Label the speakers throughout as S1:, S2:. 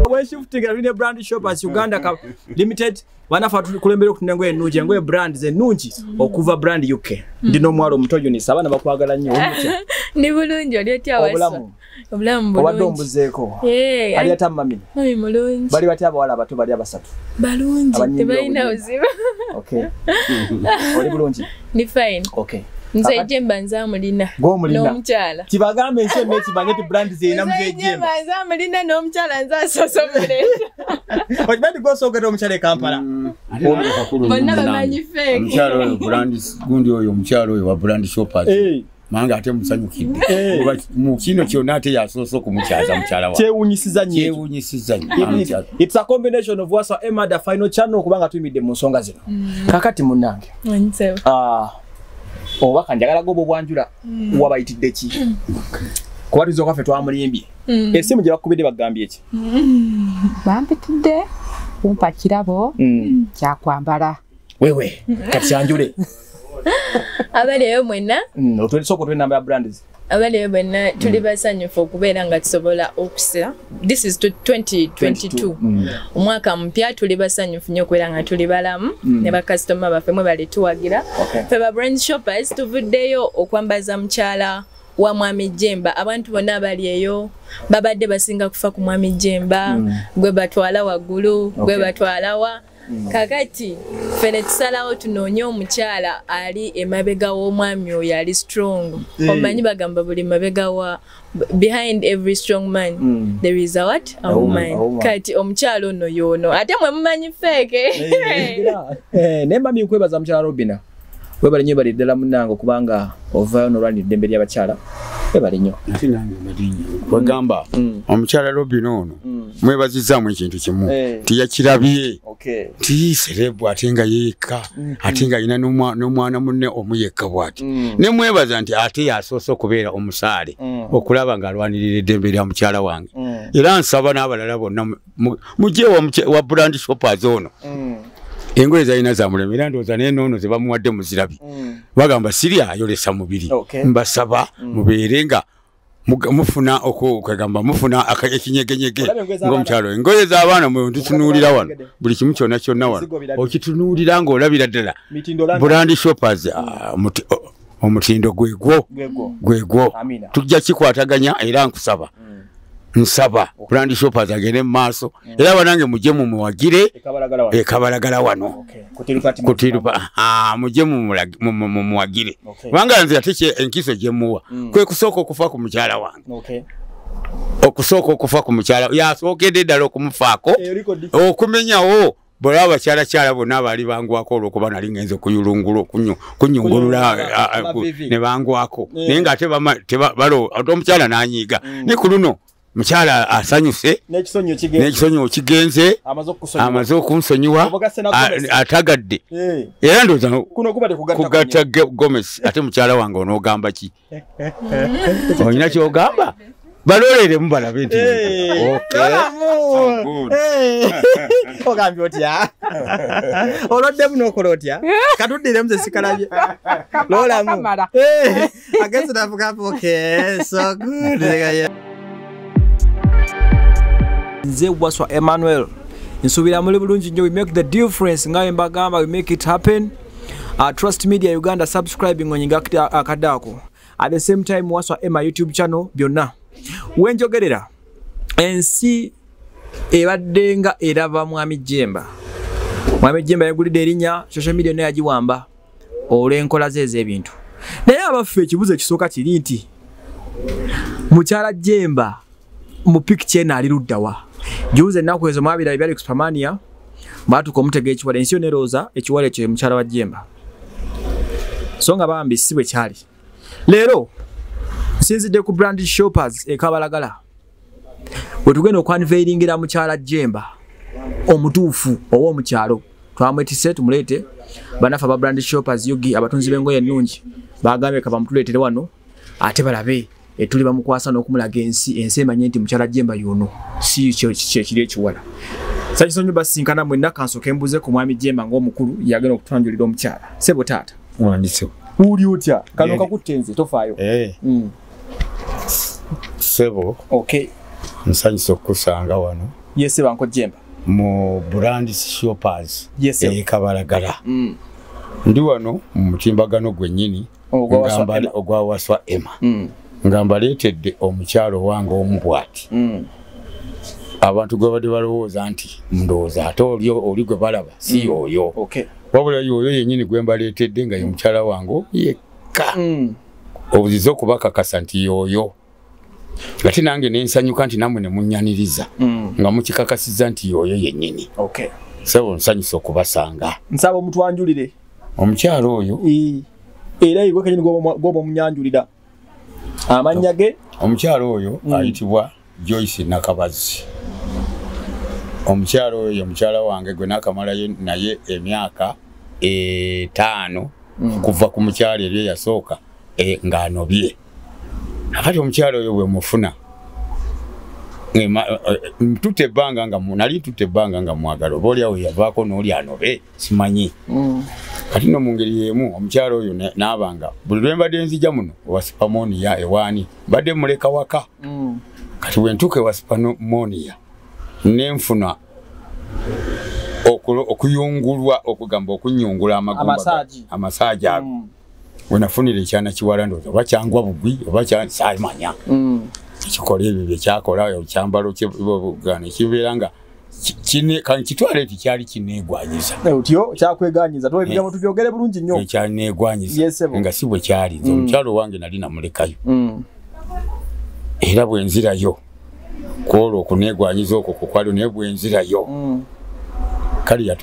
S1: weshiftingaine brand shoppers uganda ka limited banafa tukulembera okutunda engoye ennungi engoye brand zennungi okuva brand uk ndina omwalo omuto unisa abaana bakwagala nnyo ndi bulungi oli
S2: otya obulamu obulamu bulungi ombuzeeko eh,
S1: ali ata mami mami mulungi bali batya abawala abato bali abasatu balungi
S2: tebalina buzibu
S1: okay oli bulungi ni fine
S2: okay nze
S1: ejemba nze
S2: amulina n'omukyala kibagambe ensi onna
S1: ekimanye ti brand zeyina mze ejemba nze amulina n'omukyala
S2: nze asosomuleeta
S1: okiba nti gwosoogera omukyala e kampala
S2: mm. bonna bamanyi
S3: feeke gundi oyo omukyala oyo wa brand shoppers manga ate musanyukidde eh. oba mu kino kyonna ate yasoose okumukyaza mukyala wakyewunyisiza nyokyewunyisiza
S1: its a combination of wasa emada final channel kubanga tuyimidde mu nsonga zino mm. kakati munange ah, obubaka njagala goba obwanjula mm. wabayitidde ki kuba tuza okaffe twamulimbye mm. esimu gye bakubidde bagambye ki
S4: bampitidde kumpa kirabo kyakwambala wewe
S1: katushanjule
S2: abaleyo mwena mm, otwelisoko twe namba
S1: ya brands abaleyo bwenna
S2: tuli mm. basanyufu okubeera nga tusobola okusira this is 2022 mm. omwaka mupya tuli basanyufu nyo okubeera nga tuli balamu mm. ne bakasitoma baffe mwe bali tuwagira fe ba brand shoppers tuvuddeyo okwambaza mukyala wa mwami jemba abantu bonna abali eyo babadde basinga kufa ku mwami jemba gwe batwala waggulu gwe batwalawa Mm. kakati ffe ne tusalawo tunoonye omukyala ali emabega w'omwami oyo ali strong mm. omanyi bagamba buli mabega wa behind every strong man mm. there is a what a, a woman. woman kati omukyala ono yoono ate mwe mumanyi feeke eh, eh,
S1: naye mami nkwebaza mukyala robina webale nyo bali ddala munange okubanga ovayo nolwanira eddembe lyabakyala webale nyo
S3: wegamba mm. omukyala lobina ono mm. mwebazizaamu ekintu kimu eh. tiyakirabye ti serebu ate nga yeyekka mm-hmm. ate nga alina n'omwana munne omu yekka bwati mm. ne mwebaza nti ate yasoose okubeera omusaale okulaba ng'alwanirira eddembe lya mukyala wange era nsaba n'abalala bonna mujje wa brand shoppers ono mm. engoye zalina zamulema era ndowooza naye noono ze bamuwadde muzirabi mm. bagamba siri ayolesa mubiri mbasaba mm. mubeere nga mufuna okwegamba mufuna ekinyegenyege ngaomukyalo engoye zabaana mwetutunuulira wano buli kimu kyona kyonna wano okitunuulira ngaolabira ddala brand shoppers mm. ah, oh, omutindo gwegwo gwegwo tujja kikwataganya era nkusaba mm. nsaba okulandi shoppers agende mu maaso mm. era banange mujje mumuwagire ekabalagala wano kutirupa mujje mumuwagire kubanga nze ate enkiso gyemuwa mm. kwe kusooka okufa ku mukyala wange okusooka okufa ku mukyala yasookedde ddala okumufaako eh, okumenyawo bwolaba bakyalakyala bonna abaali bangwako olwokuba nali ngenze kuyulungula kunyungulula ne bangwako eh. naye nga ate omukyala nanyiiga mm. ne ku luno mukyala asanyuse n'ekisonyiwo kigenze amaze okunsonyiwa atagadde eh. era ndooza kugatta gomesi ate mukyala wange onoogamba ki olina kyogamba baloleremu balabe nti
S1: ogambye otya oloddemu nokola otya katuddiremu zesikalabye lolamu agenzi navugamu okay so good nze waswa emmanuel nsuubira muli bulungi nnyo we make the difference nga wembagamba we make it happen uh, trust media uganda subscribing onyinga akadako at the same time waswa ema youtube channel byonna wenjogerera ensi ebadde nga eraba mwami jemba mwami jemba yagulidde erinya social media naye yagiwamba olw'enkola ze ez'ebintu naye abaffe ekibuzo ekisooka kiri nti mukyala jemba mu picture eno ali luddawa juuzi ennaku ezo mwabirabe byali ku supermania mwatuka omutega ekiwala ensi yona erooza ekiwala ekyo mukyala wa jemba so nga bambi si bwe kyali leero nsinzidde ku brand shoppers ekabalagala wetugenda okwanveiringira mukyala jemba omutuufu owa omukyalo twamwetise tumuleete banafe aba brand shoppers yugi abatunzi b'engoye ennungi bagambye kabamutuleetere wano ate balabe etuli bamukwasa n'okumulaga ensi ensi emanye nti mukyala jemba yono si kyekiri ekiwala sakiso nyo basinkana mwena kansoke mbuze ku mwami jemba ng'omukulu yagenda okutwanjulira omukyala sebo taata wandisewo
S3: uli otya
S1: kano kakutte nze tofaayo eh.
S3: mm.
S1: sebo okay
S3: nsanyisa okukusanga wano
S1: yese banko jemba mu brand
S3: shoppers yes, ekabalagala
S1: mm.
S3: ndi wano mu mutimbagano gwennyini ogwawaswa ema mm. nga mbaleetedde omukyalo owange omu bwati mm. abantu gwebadde balowooza nti ndowooza ate oli oli gwe balaba si mm. oyo wabula
S1: yoyo yenyini
S3: gwe mbaleetedde nga ye mukyala wange yekka obuziza okubakakasa nti yoyo ate nange nensanyuka nti namwe nemunyaniriza mm. nga mukikakasiza nti yoyo yenyini okay. sebo
S1: nsanyusa
S3: okubasanga nsaba omutwanjulire
S1: omukyalo
S3: oyo era
S1: igwe kenyini gwoba omunyanjulira amannya ge omukyalo oyo mm.
S3: ayitibwa joyce nakabazi omukyalo oyo omukyala wange gwe nakamalayo naye emyaka etaano mm. kuva ku mukyalo ebyo yasooka e, ng'anobye akati omukyalo oyo bwe mufuna eh, ntute ebbanga nga nali ntute ebbanga nga mwagala oba oliawo yavaako n'oli anobe simanyi mm. kati no mu ngeri y'emu omukyalo oyo n'abanga buli lwe mbadde nzija muno owa sipamonia ewaani mbadde muleka waka mm. kati bwe ntuuka ewa sipamonia ne nfuna okuyungulwa okugamba okunyungula amagumba amasaaji ago mm. wenafunira ekyana kiwala ndoza oba kyangwa bugwi oba kyamanya mm. ekikola ebyo byekyakola ekyambalo kyebugana ekibeera nga kitwale ti kyali kinegwanyiza eh, otyo kyakweganyiza
S1: tolekera mutu eh. byogere bulungi nnyo eh, kyanegwanyiza
S3: nga si bwe kyali nze mm. omukyalo owange nali namulekayo mm. era bwenzirayo kwolwo okunegwanyiza okwo kukwalio naye bwenzirayo kale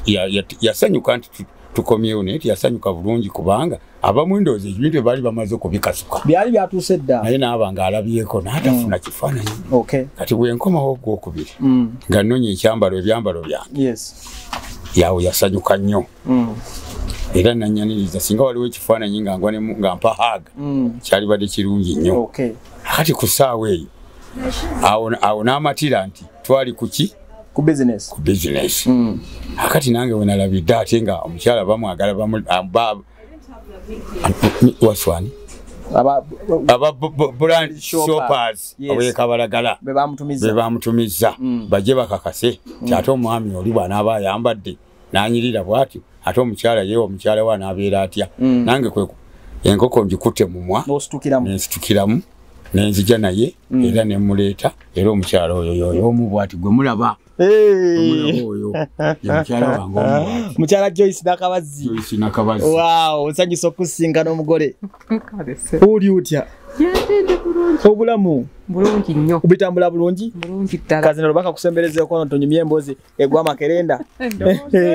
S3: yasanyuka nti tukomyewo naye teyasanyuka bulungi kubanga abamu endowooza ebintu ebaali bamaze okubikasuka byali byatuuse dda
S1: naye naaba nga alabyeko
S3: naatafuna mm. kifaananyi kati bwenkomawo ogwokubiri mm. nga nonya ekyambalo ebyambalo byange yawo yasanyuka nnyo mm. era nanyaniriza singa waliwo ekifaananyi nga nga mpa haaga kyalibadde kirungi nnyo kati ku ssaawa eyo awo n'amatira nti twali kuki ku business ku
S1: business mm. akati
S3: nange wena la bidda tinga omukyala bamu agala bamu ah, ba waswani aba aba brand shoppers oye kabalagala be bamutumiza be bamutumiza mm. baje bakakase mm. kyato mwami oli bwana aba yambadde nanyirira bwati ate omukyala yewa omukyala wa nabeera atya mm. nange kwe enkoko ngikute mumwa nensitukiramu nenzija naye mm. era nemuleeta era omukyala oyo yoyo omu bwati gwe mulaba
S1: mukyala joyce nakabazi osanyusa okusinga n'omugole oli otya obulamu bulungi
S4: nnyo bitambula bulungi
S1: bulungi ddala kazina
S4: lubaka kusemberezeekono
S1: tonyumya emboozi egwa makerenda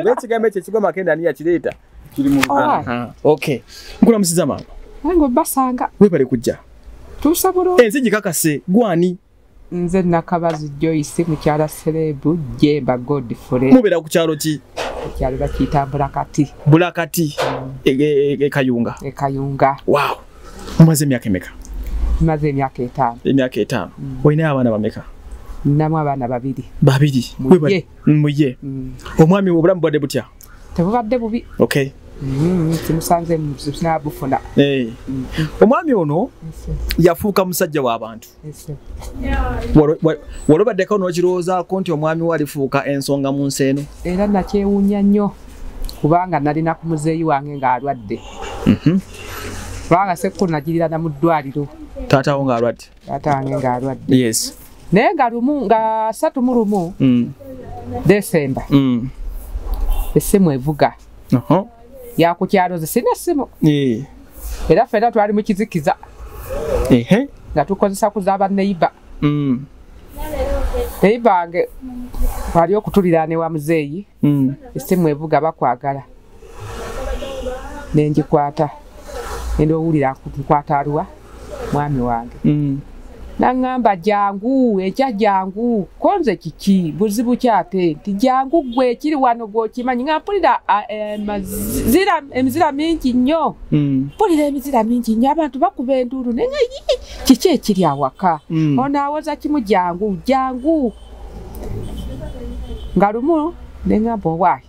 S1: bekigambo ekyo ekigwa makerenda ani yakireeta kiri mu ah, okay nkula musiza maama nange obasanga
S4: webale kujja
S1: tuusa bulungi
S4: ensi gikakase
S1: gwani nze
S4: nakabazi joyce mukyala serebu jemba godfrey mubeera ku kyalo ki
S1: ekyalo bakiyita
S4: bulakati bulakati mm.
S1: e, e, e, ekayunga ekayunga
S4: wow
S1: mumaze emyaka emeka maze emyaka
S4: etaano emyaka etaano mm.
S1: olinayo abaana bameka namu abaana
S4: babiri babiri
S1: muye mm. omwami obulamu bwadde butya tebubadde bubi
S4: okay
S1: mm, simusanze
S4: sinabufuna eh.
S1: omwami ono yafuuka musajja w'abantu walobaddeko n'okirowoozaako nti omwami we alifuuka ensonga mu nsi eno era nakyewuunya
S4: nnyo kubanga nalina ku muzeeyi wange ng'alwadde mhm. kubanga sekko nagirirana mu ddwaliro taatawo ng'alwadde
S1: taata wange ng'alwadde
S4: yes naye
S1: nga lumu
S4: nga satu mu lumu mm. desemba mm. essimu evuga yakukyalo ze sina simu eh. era fena twali mu kizikiza ehe nga tukozesa kuzaba neiba mm. neiba nge wali okutulira ne wa muzeeyi mm. esimu evuga bakwagala nenjikwata nende owulira nkwata aluwa mwami wange mm. naŋŋamba jangu ekya jangu konze kiki buzibu kyate nti jangu gwe ekiri wano gwokimanyi nga mpulira eh, emizira mingi nnyo mm. mpulira emizira mingi nnyo abantu bakuba enduulu naye nga kiki ekiri awaka mm. ono awoza kimu jangu jangu nga lumu neŋŋamba owaayi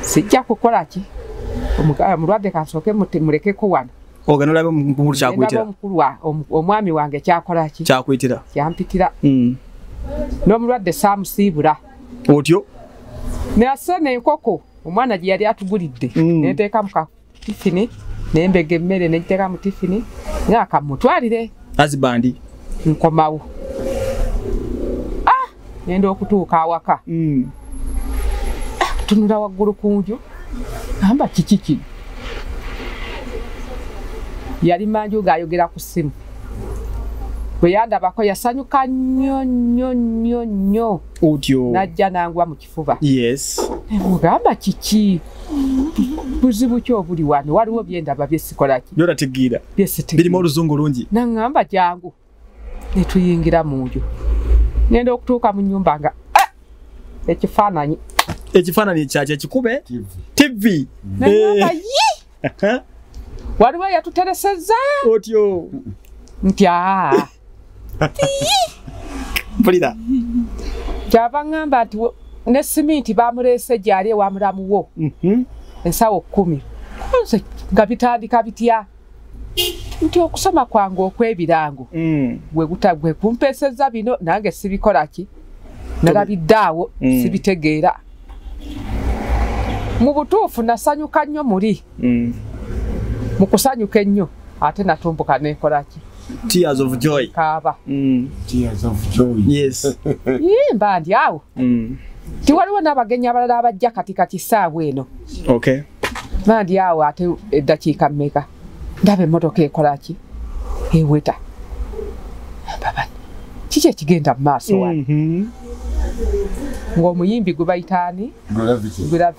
S4: sijja kukola ki omulwadde kansooke mulekeko wano ogenda olabe omukulu
S1: kyakuyitira omwami wange
S4: kyakola
S1: ki
S4: kyakuyitira
S1: kyampitira
S4: hmm. n'omulwadde saamusiibula otyo
S1: nase
S4: nenkoko omwana gye yali atugulidde hmm. nenteeka muka tifini nembega emmere nejjaka mu tifini nga kamutwalire azibandi
S1: nkomawo
S4: ah! nenda okutuuka awaka mm. ah, tunula waggulu ku nju amba kiki kino yali manju ng'ayogera ku ssimu bwe yandabako yasanyuka nnyo nnyo nnyo nnyo otyo najja
S1: nangwa mu kifo
S4: fuba yes
S1: mugamba
S4: kiki buzibu ki obuli wano waliwo byendaba byesikolaki byolatigiira
S1: byesibirimu oluzungu lungi naŋamba jangu
S4: netuyingira mu nju ngenda okutuuka mu nyumba nga eh, ekifaananyi ekifaananyi
S1: kyaki ekikube tv naŋamba eh.
S4: yi waliwo eyatutereseza otyo
S1: nti
S4: aa
S1: mpulira
S4: kyava ŋŋamba nti ne siminti bamuleese gyali ewa mulamu wo mhm. ensawo kkumi nze nga bitandika bitya nti okusoma kwange okw'ebirango mm. gwe kumpeesezza bino nange sibikola ki nalabidde awo mm. sibitegeera mu butuufu nasanyuka nnyo muli mm. mukusanyuka ennyo ate natumbuka nekolaki tears of
S1: joy kaaba mm.
S4: tears
S3: of joy yes
S1: yimba ndi
S4: awo mm. tiwaliwo n'abagenyi abalala abajja kati kati saawa eno okay
S1: bandi
S4: awo ate eddakiika mmeka ndaba emmotoka ekola ki eweta baba kiki ekigenda mu maaso wano mm-hmm. ng'omuyimbi gwe bayitaani gravity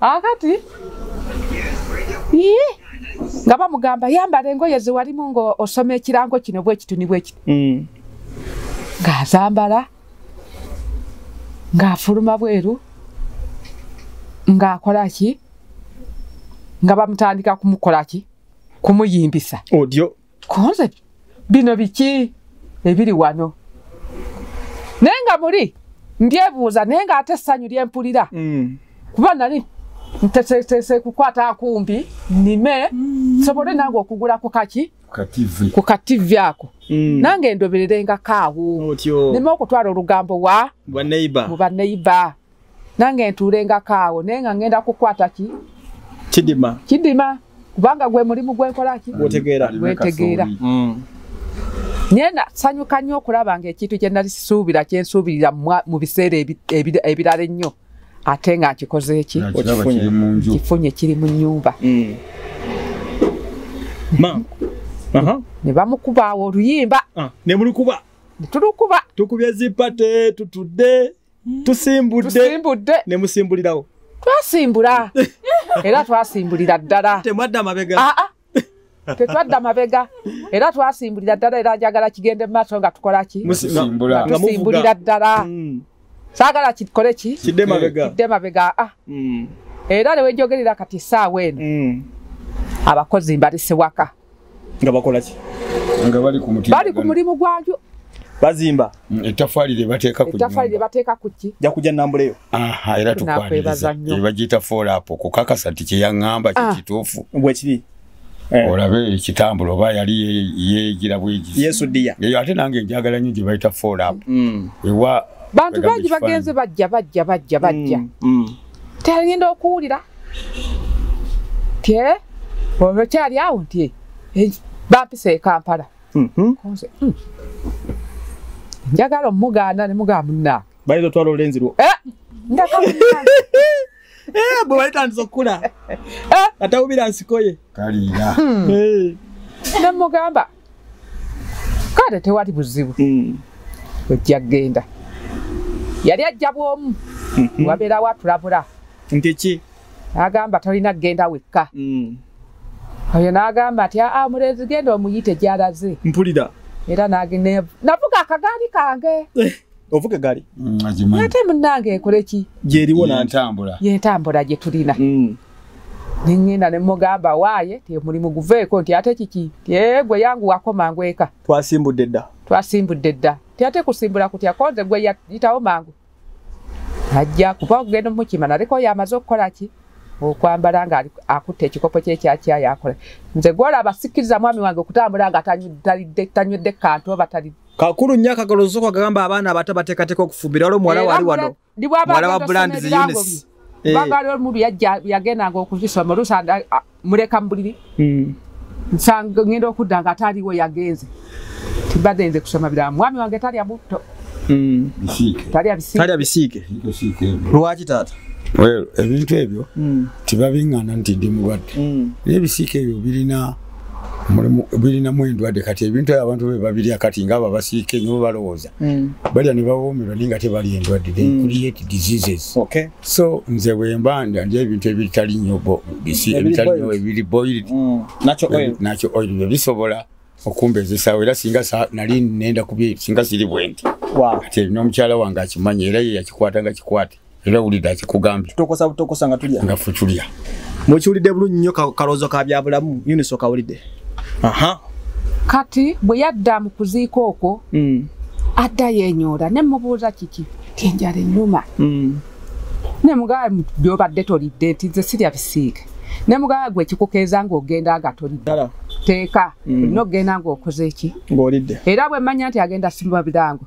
S1: akati
S4: yii nga bamugamba yambala engoye zewalimu nga osoma ekirango kino bwekituni bwekiti mm. ngazambala ngafuluma bweru ngakola ki nga bamutandika kumukola ki kumuyimbisa odyo
S1: konze
S4: bino biki ebiri wano naye nga muli ndyebuuza naye nga ate essanyu lyempulira mm. kuba nali nteteese kukwata akumbi nime mm. sobole nange okugula ku kaki ku kativi ako mm. nange ndobererenga kaawo nime okutwala olugambo wa mu baneiba nange ntuulenga kaawo naye nga ngenda kukwata ki kidima kidima kubanga gwe mulimu gwenkola ki gwetegeera gwetegeera mm. naye nasanyuka nnyo okulaba nga ekintu kye nali sisuubira kye nsuubirira mu biseera ebirala ennyo ate nga nkikoze eki kifunye kiri mu nnyumba mm. ne bamukubaawo oluyimba ah, ne mulukuba
S1: tulukuba
S4: tukubye zipate
S1: tutudde tusimbudde tusimbudde ne musimbulirawo twasimbula
S4: era twasimbulira ddala temwadda mabega ah, ah.
S1: tetwadda
S4: mabega era twasimbulira ddala era njagala kigende mumaaso nga tukola ki tusimbulira ddala mm. saagala kikole ki kidde mabega ah. mm. era newejogerera kati saawa eno mm. abakozi mbalise waka nga bakola
S1: ki nga bali ku
S3: muti bali ku mulimu
S4: gwagyo bazimba
S1: mm, etafali lye
S3: bateeka ku etafali lye bateeka ku
S4: ki ja kuja nambule yo
S1: aha era
S3: tukwaliza ebajita fall up ku kakasa ti kye yangamba kye ah. kitufu bwe kiri eh.
S1: olabe
S3: ekitambulo oba yali yegira bwegi yesu dia eyo ate nange
S1: njagala
S3: nyo gye bayita fall up mm. ewa bantu bangi
S4: bagenze bajja bajja bajja bajja mm, teyagenda okuwulira tye olwo kyali awo nti eh, bampisa ekampala mm-hmm. hmm. njagala omugaana ne mugaa munnange bayinza otwala olulenzi lwo
S1: eh, eh, bwe balitandisa okukula atawubira nsikoye kaliira
S3: hmm.
S4: nemugamba kale tewali buzibu mm. ojja kugenda yali ajja bwomu mhm. wabeerawo atulabula nti ki
S1: agamba tolina
S4: kugenda wekka mm. oyo n'agamba nti aa ah, omulenzi genda omuyite gyalaze mpulira era
S1: nagenda
S4: navuga akagaali kange eh, ovuga egaali
S1: mm, ate munange
S4: ekoleki gyeriwo yentambula yentambula gye tulina nengenda nemugamba waaye temulimu guveeko nti ate kiki tyegwe yangu wakoma ngweka twasimbudde dda
S1: twasimbudde dda ti ate kusimbula kutya konze gwe yitawo mangu ajja kuba okugenda omukima naleko yamaze okukola ki okwambala nga akutte ekikopo kyekyakya yakola nze gwola abasikiriza mwami wange okutambula nga tanywedde kantu oba tali kakulu nnyo akagalozoka
S5: gagamba abaana abato bateekateeka okufumbira wali omuwala wali wano ndi bwaba Mwala wa brand zi Eunice. Eh. bagala omubi
S4: yajja yagendanga okuzisoma oluusa nga, ah, muleka mu buliri Mm. nsanga ngenda okudda nga ataaliwo yagenze tibadde nze kusoma birala mwami wange talya butto Mm. bisiike talya bisiike
S5: Talya bisiike. bisiike siike ebyo Lwaki taata? Well, ebintu
S3: ebyo Mm. tebabiŋŋana nti ndi mulwadde Mm. naye ebisiika ebyo birina birinamu endwadde kati ebintu ebyo abantu bebabirya kati ngaabo abasiika enyo bebalowooza hmm. balya nebawoomerwa naye nga tebali endwadde hmm. create diseases so nze wemba ndi ebintu ebitali nyo ebiri boiled hmm. nakyo oil byo bisobola okumbezesawo era singa nali nenda kubye singa siri bwendi kati nomukyala wange akimanyi era ye yakikwata nga kikwate era wulidde akikugambye tutokosa butokosa nga tulya
S5: nga futulya
S3: mukiwulidde bulu
S5: nnyo kaloozo ka byabulamu unis okawulidde aha kati
S4: bwe yadda mu kuziika okwo mm. adda yenyoora ne mubuuza kiki kyenjala ennuma mm. ne mugaa byobadde tolidde nti nze sirya bisiike ne mugaa gwe kikukeeza ng'ogenda nga tolidde teeka mm. olina okugenda ng'okoze ki ng'olidde era bwe
S5: mmanya nti
S4: agenda simba birango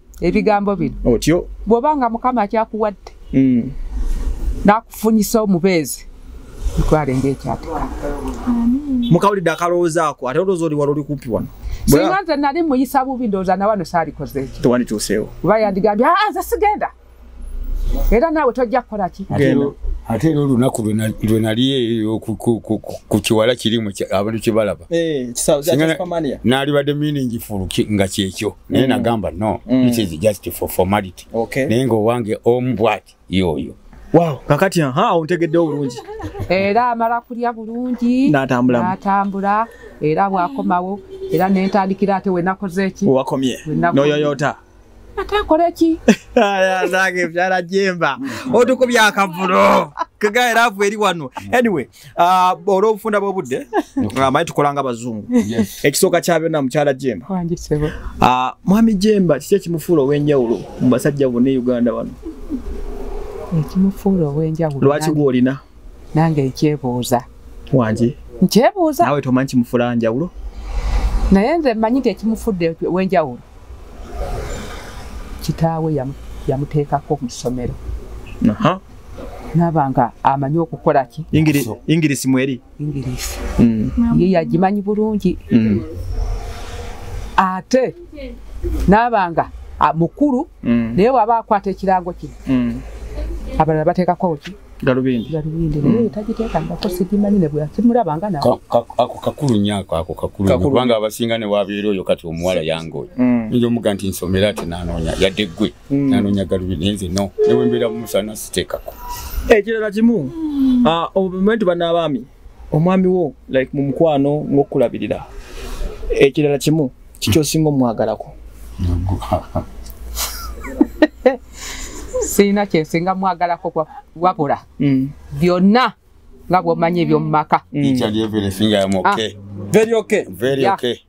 S4: ebigambo bino otyo bwoba nga
S5: mukama
S4: akyakuwadde mm. nakufunyisa omubeezi mutwale ngaekyatika
S5: mukawulidde akalowoozaako ate olowooza oli wali oli kumpi wano singa nze nali
S4: muyisa bubi ndowooza nawano saalikozeekyo tewandituuseewo kuba
S5: yandigambye
S4: aze ah, sigenda era naawe tojja kukola ki ate era
S3: olunaku lwe nali eyo ku kiwala kirimu abantu kyebalaba eh, naalibadde miningi fulu nga kyekyo naye mm. nagamba no mm. this is just for formality naye ngaowange omu bwati yooyo Wow. Kakati ya
S5: haa untegede urunji. Era mara
S4: kulia urunji. Natambula. Natambula. Era wakomawo. Era nentandikira ate wenakoze ki. Wakomye.
S5: Noyoyota. ate akole
S4: ki nange
S5: byalajemba hmm. otukubye akavulo kega era avu eri wano hmm. anyway uh, olw'obufunda bw'obudde uh, manyi tukolanga abazungu ekisooka kya byonna mukyala jemba uh, mwami jemba kiki ekimufuula ow'enjawulo mu basajja bonna e uganda wano ekimufuula
S4: ow'enjawulo lwaki gwolina
S5: nange
S4: ekyebuuza wangi
S5: nkyebuuza nawe
S4: tomanyi kimufuula
S5: njawulo naye
S4: nze mmanyi nti ekimufudde ow'enjawulo kitaawe yamuteekako mu ssomero naba nga amanyi okukola ki ingirisi mweri
S5: ingirisi
S4: mm. ye yagimanyi bulungi mm. ate naba nga mukulu mm. naye waba akwata ekirango kino abalala bateekako ki galubindi galubindi mm. naye tagiteekangako sigimanyi ne bweyakimulaba nga na ako kakulu nnyo
S3: ako ako kakulu nnyo kubanga abasinga ne wabeera oyo kati omuwala yange oyo mm. nja omuga nti nsomera ati nanoonya yadde ggwe mm. nanoonya galubindi naye nze no newembeera mumusana siteekako ekirala kimu
S5: ah, obumentu banaabaami omwami wo like mu mukwano ng'okukulabirira ekirala kimu kikyosinga omwagalako
S4: sirina kyensinga mwagalako wabula mm. byonna nga bwomanyi ebyomumaka mm.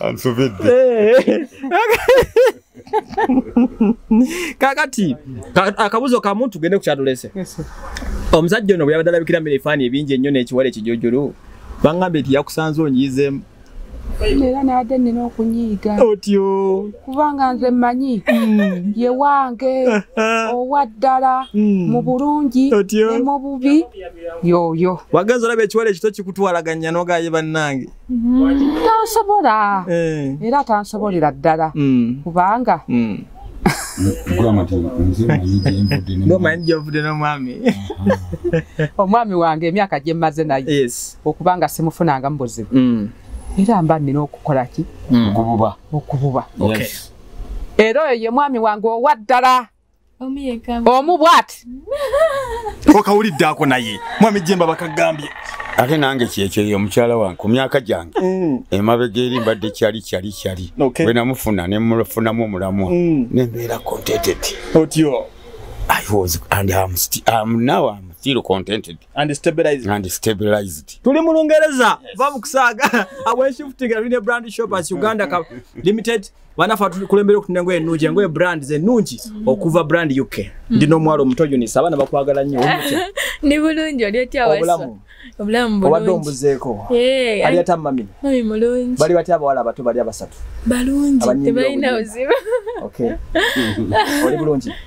S3: ansobedde
S5: kakati ka- akabuzo kamu tugende ku kyatulese omusajja ono bwe yabadde alabikira mu ebifaani ebingi ennyo n'ekiwala ekijojolo bangambye nti yakusanze onyiizemu era
S4: nabadde nina okunyiiga otyo
S5: kubanga nze
S4: mmanyi ye wange owa ddala mu bulungi Otyo. ne mu bubi yoyo wagenza olaba ekiwala
S5: ekito kikutwalaganya nogaye bannange Mm, tansobola
S4: eh. era tansobolera ddala mm. kubanga
S5: mm. omanyi gyovudde nomwami
S4: omwami wange emyaka gyemmaze naye okuba nga
S5: simufunangamu
S4: buzibu era mba nina okukola ki okububa
S5: era
S4: oyo ye mwami wange owa ddala omu bwati
S5: okawulidde ako naye mwami jemba bakagambye ate nange
S3: kyekyeyo omukyala wange ku myaka gyange mm. emabega eri mbadde kyali kyali kyali bwe namufuna nemufunamu omulamwa mm. nembeera contented otyo
S5: i was
S3: and am still am now am still contented and stabilized and
S5: stabilized
S3: tuli mu lungereza
S5: va mukusaaga awenshifutinga rine brand shop as uganda limited banafa tukulembera okutina engoye ennungi engoye brand zennungi mm. okuva brand uk mm. ndi n'omuwala omuto unisa abaana bakwagala nnyo ndi bulungi oli
S2: otya obulamu obulamu obadde ombuzeeko
S5: eh, ali ata mami mami mulungi bali
S2: batya abawala abato bali
S5: abasatu balungi
S2: tebalina buzibu
S5: oli bulungi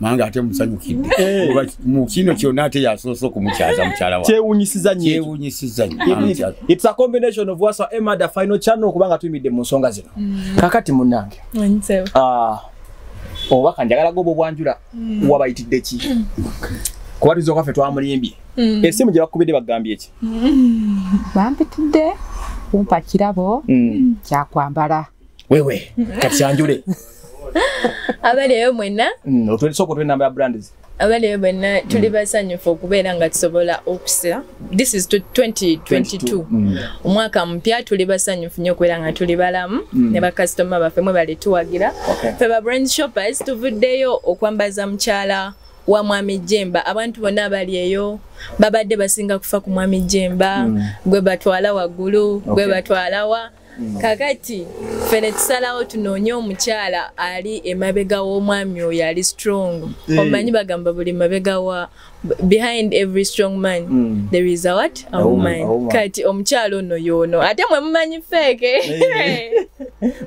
S3: manga ate musanyukidde eh. mu kino kyonna ate yasoose okumukyaza mukyala wakyewunyisiza nyokyewunyisiza
S5: its a combination of wasa emada final channel okubanga tuyimidde mu nsonga zino mm. kakati munange ah, obubaka njagala goba obwanjula mm. wabayitidde ki mm. kuba tuza okaffe twamulimbye esimu gye bakubidde bagambye ki
S4: bampitidde kumpa kirabo kyakwambala wewe
S5: kati kyanjule
S2: abaleyo mwena mm, otwesoko twe namba
S5: ya brands abaleyo bwenna
S2: tuli basanyufu okubeera nga tusobola okusa this is 2022 mm. omwaka mupya tuli basanyufu nyo okubeera nga tuli balamu mm. ne bakasitoma baffe mwe bali tuwagira fe ba brand shoppers tuvuddeyo okwambaza mukyala wa mwami jemba abantu bonna abali eyo babadde basinga kufa ku mwami jemba gwe batwala waggulu gwe batwalawa Mm. kakati ffe ne tusalawo tunoonye omukyala ali emabega w'omwami oyo ali strong mm. omanyi bagamba buli mabega wa behind every strong man mm. there is a what a, a woman. woman kati omukyala ono yoono ate mwe mumanyi feeke eh.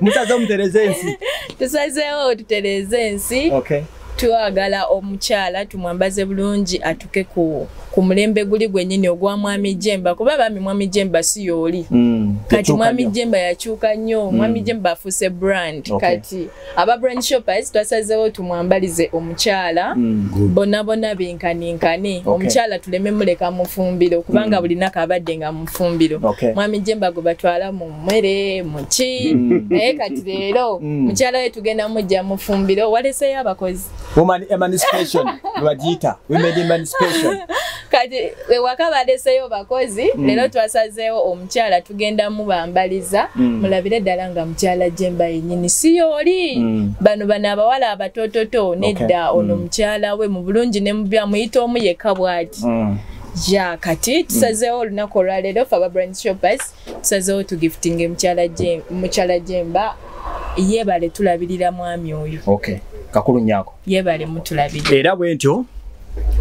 S5: musaze omutereze ensi tusazeewo
S2: tutereze ensi okay. twagala omukyala tumwambaze bulungi atuke ku, ku mulembe guli gwenyini ogwa mwami jemba kuba bambi mwami jemba si yooli mm, kati mwami jemba yakyuka nnyo mm. mwami jemba afuuse brand okay. kati aba brand shoppers twasazewo tumwambalize omukyala mm, bona bona benkaninkane okay. omukyala tuleme muleka mufumbiro kubanga mm. bulinako abadde nga mufumbiro okay. mwami jemba gwe batwala mu mmere muki mm. naye kati leero mm. mukyala we tugenda mujja mufumbiro waleseyo abakozi
S5: kati ewaka
S2: baleseyo bakozi mm. leero twasazeewo omukyala tugenda mubambaliza mulabire ddala nga mukyala jemba yenyini siyooli bano bano abawala abatototo nedda ono mukyala we mu bulungi ne mubyamuyita omu yekka bwati ya kati tusazeewo olunaku olwaleero fe aba brand shoppers tusazeewo tugiftinga mukyala jemba yebale tulabirira mwami oyo okay. kakulu
S5: nyako yebale mutulabirira
S2: era bwentyo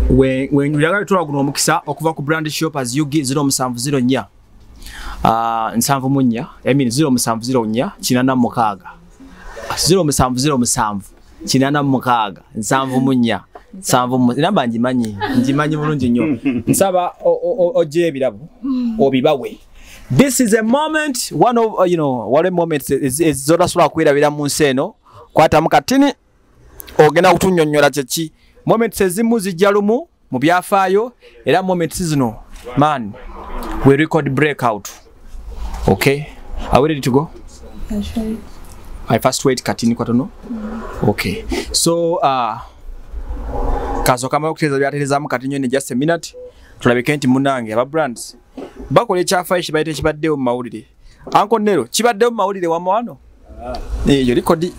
S5: wenjuliraga bitwala guno omukisa okuva ku brand shop as ug 0704 ah, nsanvu munya emin 0704 kinana mukaaga 0707 kinana mukaaga nsanvu munya nsanvu mu namba ngimanyi ngimanyi bulungi nnyo nsaba ojja ebirabo obibawe this is a moment one of uh, you know wali moment ezotasobola kwirabira mu nsi eno kwatamu katini ogenda kutunyonyola kyeki moments ezimu zijja lumu mu byafaayo era moments zino man we record break out okay are we ready to go sure.
S2: i first
S5: wait katini kwatono mm. okay so uh, kaso kama okuteeza byaterezamu kati nyo ne just a minute tulabike nti munange aba brands bakola ekyafaayo kibayita ekibaddewo mu mawulire Anko Nero kibadde mu mawulire wa mwano. Ah. Eh, yo likodi.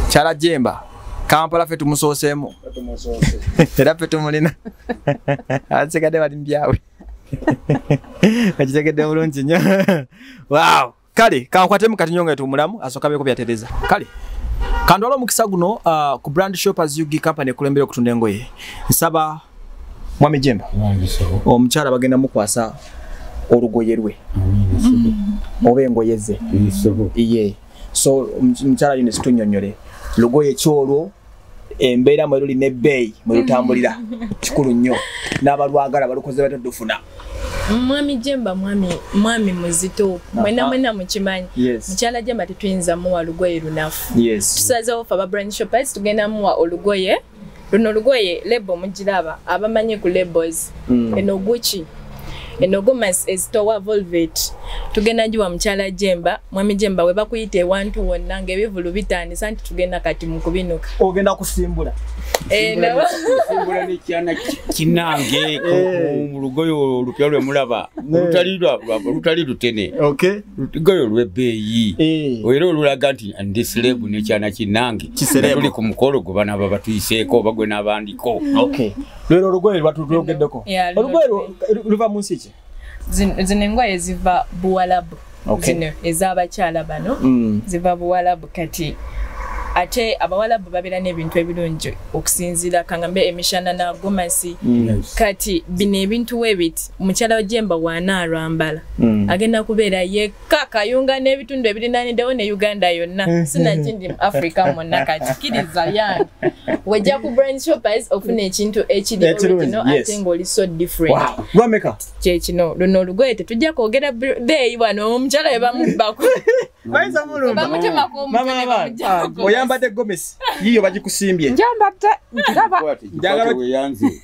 S5: Chala jemba. Kampala fe tumusosemu. Tumusose. Era fe tumulina. Asekade bali mbyawe. Ajitegede bulungi nyo. Wow. Kale, kankwate mu katinyonga etu mulamu asoka beko bya tereza. Kale. Kandwalo mukisa guno uh, ku brand shop as you company kulembere okutunda engoye. Nsaba mwami jemba omukyala bagenda mukwasa olugoye lwe mm-hmm. oba engoye ze ye so omukyala yino situnyonyole lugoye kyolwo embeera mwe luli nebbeeyi mwe lutambulira mm-hmm. kikulu nnyo n'abalwagala balukoze batadde ofuna mwami
S2: jemba mwami mwami muzito mwena mwena mukimanyi mukyala jemba tetuyinza muwa lugoye lunafu tusazewo fe aba brand shoppers tugenda muwa olugoye luno lugoye lebo mugiraba abamanyi ku labels mm. eno guki eno gomasi ezitowa volvet tugenda njiwa mukyala jemba mwami jemba we bakuyita ewantu wonna ngaebivulu bitandisa nti tugenda kati mu kubinuka ogenda kusimbula
S5: eh,
S3: kinange eh. mu lugoyo olupya lwe mulaba olutali lutene lugoyo lwebbeeyi eh. era olulaga nti ndi silebu nekyana kinange kisereetuli ku mukolo gwe bana baba tuyiseeko oba gwe n'abandiko lwero
S5: olugoye lwatulwogeddeko olugoye luva mu nsi ki zino
S2: engoye ziva buwalabu zino ez'abakyala bano mm. ziva buwalabu kati ate abawalabu babeera n'ebintu ebirungi okusinziira kangambe emishana na gomasi mm. kati bino ebintu webit mukyala wajemba waana alwambala mm. agenda kubeera ka kayunga n'ebitundu ebirinanidewo ne uganda yonna mm-hmm. sinakindi mu africa mwonna kakikiriza yange wejja ku brand shoppers ofuna ekintu ekiriorigino ate ngaoli so differentwameka
S5: kyekino luno
S2: olugoye tetujja kwogera beeyi bwana omukyala webamubbako oyambadde gomesi
S5: yiyo bagikusimbye njambadde
S4: njagala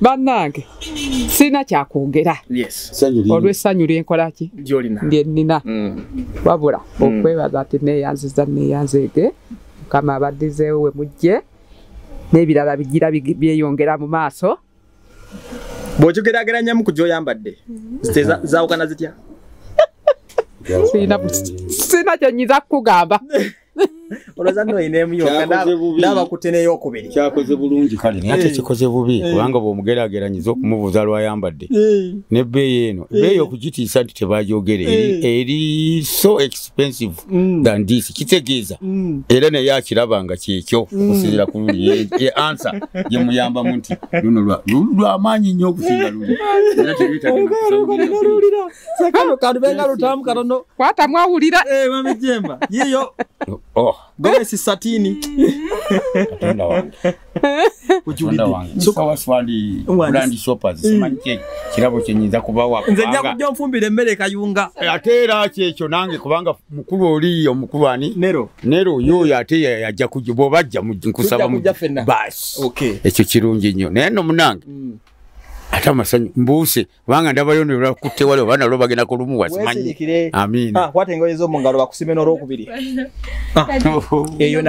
S5: bannange
S4: sirina kyakwogera olw'essanyu lyenkola ki lyennina mm. wabula mm. okwebaza ati neeyanziza neeyanzeege mukama abaddizeewo we mujje n'ebirala bigira byeyongera mu maaso bw'okigerageranyamu
S5: ku gy'oyambadde mm-hmm. zaawukana zitya
S4: sirina kyenyinza kukugamba
S5: kyakoze bulungi
S3: kale naye ate kikoze bubi kubanga bwomugerageranyiza okumubuuza lwayambadde nebbeeyi eno beeyi okugitiisa nti tebajogere eri so expensive mm. than this kitegeeza mm. era naye akiraba nga kyekyo mm. okusinzira ku luli e ansa gyemuyambamu nti luno lwamaanyi nnyo okusinga luli era tebyetagakano
S5: kantu benga lutamu katono kwata mwawulira
S4: eh mami jemba
S5: yiyo oh gobe si satini
S3: katonda wange ujulide so kwa swali brand shoppers mm. simanyi kye kirabo kye nyinza kuba wa nze nja kujja mfumbira
S5: emmere kayunga eh, atera kyekyo
S3: nange kubanga mukulu oli omukulu ani nero nero yo yate yajja kujja bo bajja mu nkusaba mu bas okay ekyo kirungi nnyo naye no munange mm. ata masanyu mbuuse kubanga ndabayo nebakutte wali oba nalo bagenda kulumuwa simanyi amiina ah, kwata engoye zo mu ngalo
S5: bakusime n'olwokubiri ah. eyo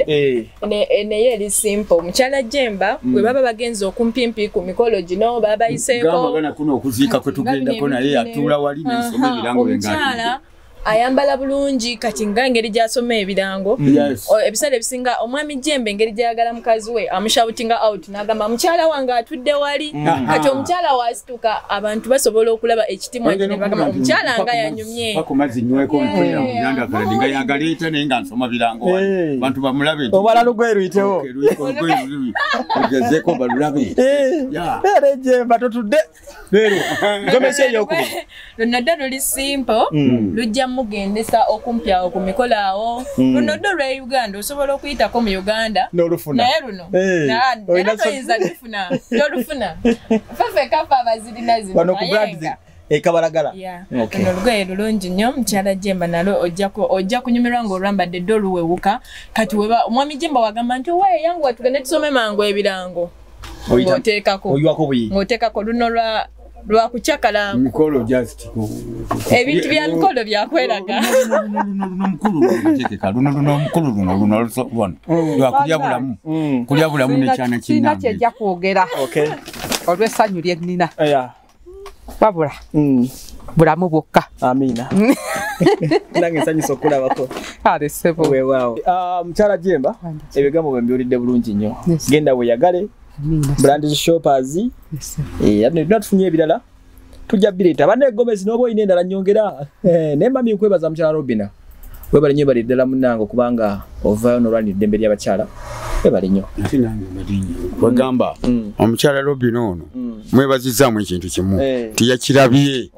S5: eh.
S2: eh, naye eri simple omukyala jemba mm. bwe baba bagenza okumpimpi ku mikolo gino babayiseeko gamba gana kuno okuziika
S3: kwe tugendako naye atuula wali n'ensoma ebirango byengaa
S2: ayambala bulungi kati nga engeri gyasoma ebirango ebiseera ebisinga omwami jembe engeri gyayagala mukazi we amushabutinga out nagamba mukyala wange atudde wali mm. kati omukyala wasituka abantu basobola okulaba ekitimwa kinebagamba omukyala nga yanyumye
S5: obalalogoeruyitewoerejeemba totudde leero gomesi eyokubiri luno ddo luli
S2: simple mm. lujja mugendesa okumpi awo ku mikolo awo mm. luno ddo lwa uganda osobola okuyitako mu uganda naye luno eh, era toyinza lufuna tolufuna fefekafa abazirina zinoayenga ekabalagala
S5: luno
S2: lugoye lulungi nnyo mukyala jemba nalo ojja kunyumirwa nga olwambadde dde oluwewuka kati omwami jemba wagamba nti owaye yangu watugende tusome mangu ebirango otekako oywako buyi otekako luno lwa lwa kuchakala mikolo just
S3: ebintu
S2: bya mikolo bya kweraga luno luno mukulu luno luno
S3: luno lwa kulya bulamu mm. kulya bulamu ne chana kinna kyeja kwogera
S4: okay olwe sanyu lye nina yeah wabula mm. bulamu bwokka amina
S5: nange nsanyusa okulabako alesebo
S4: wewaawo ah,
S5: mukyala jemba ebigambo bwe mbiwulidde bulungi nnyo genda weyagale brand shoppers era eh, tunatufunye ebirala tujja bireeta banne egomesi n'oba olina endala nyongera eh, nemami nkwebaza mukyala robina webale nyo bali ddala munange okubanga ovayo nolwanira eddembe lyabakyala webale nyo
S3: wegamba mm. mm. omukyala lobina ono mm. mwebazizaamu ekintu kimu eh. tiyakirabye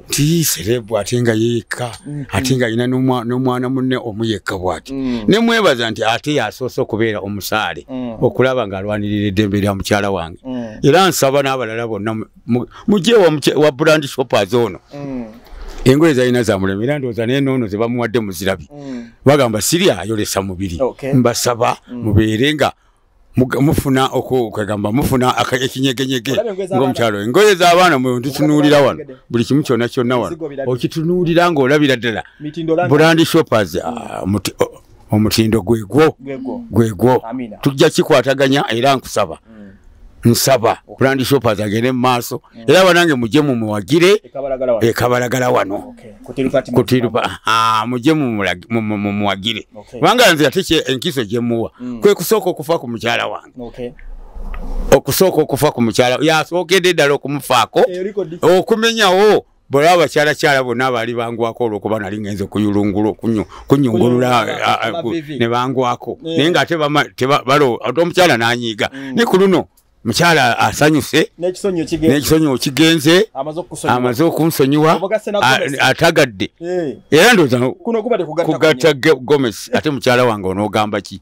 S3: ti serebu ate nga yeyekka mm-hmm. ate nga alina nomwana munne omu yekka bwati nemwebaza nti ate yasoose okubeera omusaale okulaba nga alwanirira eddembe lya mukyala wange era nsaba n'abalala bonna mujje wa brand shoppers ono mm. engoye zalina zamulema era ndowooza naye noono ze bamuwadde muzirabi mm. bagamba siri ayolesa mubiri mbasaba mm. mubeere nga mufuna okwegamba mufuna ekinyegenyege ngaomukyalo engoye zabaana mwetutunuulira wano buli kimu kyona kyonna wano okitunuulira ngaolabira ddala brand shoppers ah, omutindo gwegwo gwegwo tujja kikwataganya era nkusaba mm. nsaba brand shoppers agende mu maaso mm. era banange mujje mumuwagire ekabalagala wano kutirupa mujje mumuwagire kubanga nze ate enkiso gyemuwa mm. kwe kusooka okufa ku mukyala wange okusooka okufa ku mukyala yasookedde ddala okumufaako eh, okumenyawo bwolaba bakyalakyala bonna baali bangwako olwokuba nali ngenze kuyulungula okunyungulula ne bangwako eh. naye nga ate ate omukyala nanyiiga mm. ne ku luno mukyala asanyuse n'ekisonyiwo kigenze amaze okunsonyiwa atagadde eh. era ndooza kugatta gomesi ate mukyala wange onoogamba ki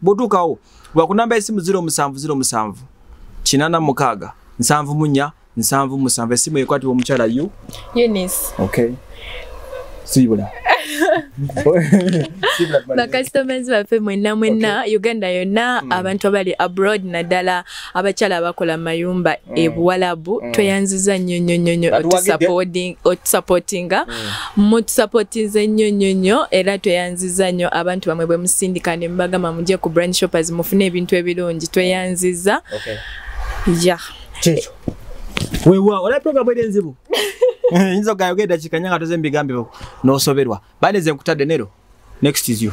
S5: bwotuukawo ba ku namba y'essimu ziro musanvu ziro musanvu kinana mukaaga nsanvu munya nsanvu musanvu essimu ekwatibwa omukyala yu eunice
S2: okay
S5: sibula
S2: bakasitomazi baffe mwenna mwenna uganda yonna hmm. abantu abali abroad naddala abakyala abakola mayumba mm. ebuwalabu mm. tweyanziza nnyo nnyo nnyo nnyo otusapootinga mm. mutusapootinze nnyo nnyo nnyo era tweyanziza nnyo abantu bamwe bwe musindika ne mubagamba mujje ku brand shoppers mufune ebintu ebirungi tweyanziza okay. ya
S5: yeah. wewa olaba programu eri enzibu yinza ogayogera eddakiika nya nga toze mbigambibwa n'osoberwa Bane ze nkutadde nero. Next is you.